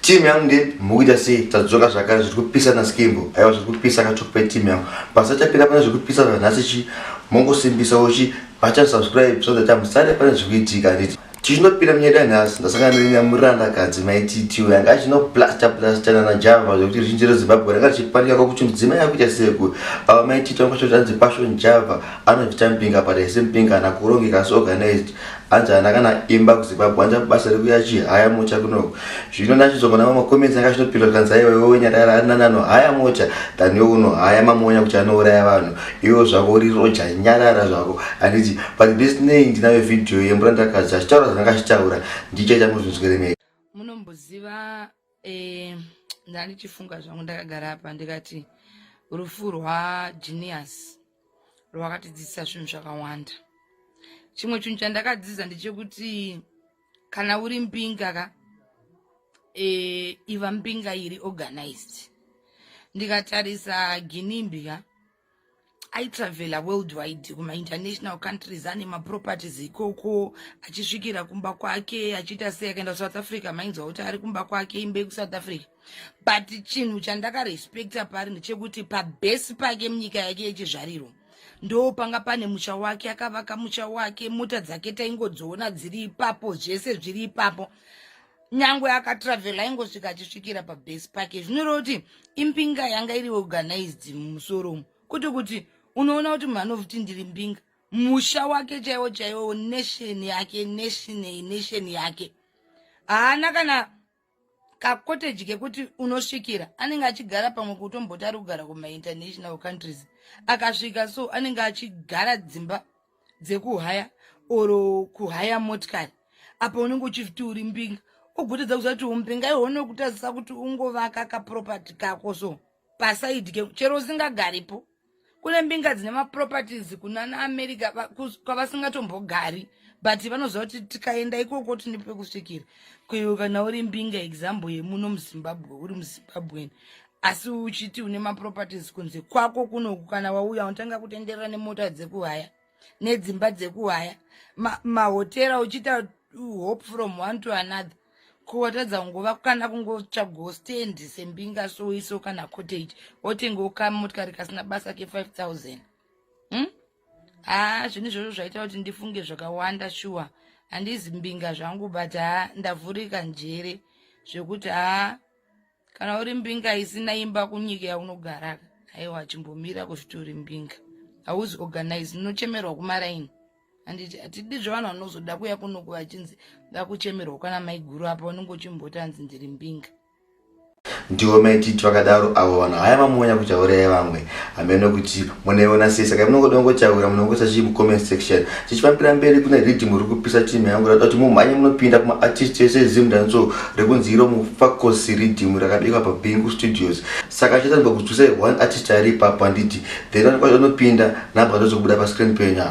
team yangu ndi mukuita sei tadzoka zvakare zviri kupisa naskimbo aiwa zviri kupisa katokupa team yangu pasachapira pane zviri kupisa zvanhasi chi mongosimbisa uchi bata subscribe so that amusare pane zviri kuitika handiti tichinopira munyeda nhasi ndasangana nenyamuranda kadzi maititiwo yanga achinoplasta plasta nana java zvekuti ruzhinji rezimbabwe ranga richipanika kwakuti mudzimai akuita seku ava maititi vangashotanzi passion java anozvita mpinga pataise mpinga anakurongeka asi organized hanzi hana kana imba kuzimbabwe hanzi basa rekuya chihaya mocha kunoko zvino ndachizogona mamakomenzi anga chinopindwa tikanzi aiwa iwe wenyarara ari nani anohaya mocha than iwe unohaya mamonya kuti anouraya vanhu iwo zvako uri roja nyarara zvako handiti but this nay ndinayo vhidhiyo yemurandakadzi achitaura zvanga achitaura ndichaita muzvinzweremei munomboziva eh, ndandichifunga zvangu ndakagara apa ndikati rufu rwagenius rwakatidzidzisa zvinhu zvakawanda chimwe chinhu chandakadzidza ndechekuti kana uri mbinga ka e, iva mbinga iri organized ndikatarisa ginimbi ka aitravela worldwide kumainternational countries ane maproperties ikoko achisvikira kumba kwake achiita sei akaenda kusouth africa mainzwa kuti ari kumba kwake imba yekusouth africa but chinhu chandakarespecta pari ndechekuti pabhesi pake munyika yake yechizvariro ndo panga pane musha wake akavaka musha wake mota dzake taingodziona dziri ipapo zvese zviri ipapo nyangwe akatravela aingosvika achisvikira pabase pake zvinoreva kuti imbinga yanga iri organized mumusoro umu kwete kuti unoona kuti munhu anovuti ndiri mbinga musha wake chaiwo chaiwo nation yake nationay nation yake haana kana kakoteji kekuti unosvikira anenge achigara pamwe kuti umboti ari kugara kumainternational countries akasvika so anenge achigara dzimba dzekuhaya or kuhaya motikari apa unenge uchifti uri mbinga ugotedza kuziva kuti umbinga iho unokutadzisa kuti ungovaka kaproperty kako so pasaidi ke chero usingagaripo kune mbinga dzine maproperties kunana america kwavasingatombogari but vanoziva kuti tikaenda ikoko tine pekusvikira kuiwe kana uri mbinga example yemuno muzimbabwe uri muzimbabweni asi uchiti une maproperties kunze kwako kunoku kana wauya unotanga kutenderera nemota dzekuhaya nedzimba dzekuhaya mahotera ma uchiita hope from one to another kuwatadza kungova kana kungotsvagawo stand sembinga soiso kana cottage wotengawo kamotikari kasina basa ke5 000 hmm? haa zvinhu izvozvo zvaita kuti ndifunge zvakawanda shuwa handizi mbinga zvangu but haa ndavhurika njere zvekuti haa kana uri mbinga isina imba kunyika yaunogara aiwa chimbomira kuzviti uri mbinga hauzi organize unochemerwa kumaraini handiti hatidi zvevanhu vanozoda kuya kunoku vachinzi vakuchemerwa kana maiguru apa unenge uchimboti hanzi ndiri mbinga ndiwo maititi vakadaro avo vanhu haya mamonya kuchauraya vamwe hameno kuti munaiona sei saka munongoda kungotaura munongoisa chii mucomment section tichifambira mberi kune riddim uri kupisa team yangu rada kuti mumhanye munopinda kumaartist ese ezimdanso rekunzi iro mufakosi riddim rakabikwa pabingu studios saka chitaniba kudzwisai one artist ari ipapo handiti then anokwanisa unopinda nabva ndozobuda pascreen penya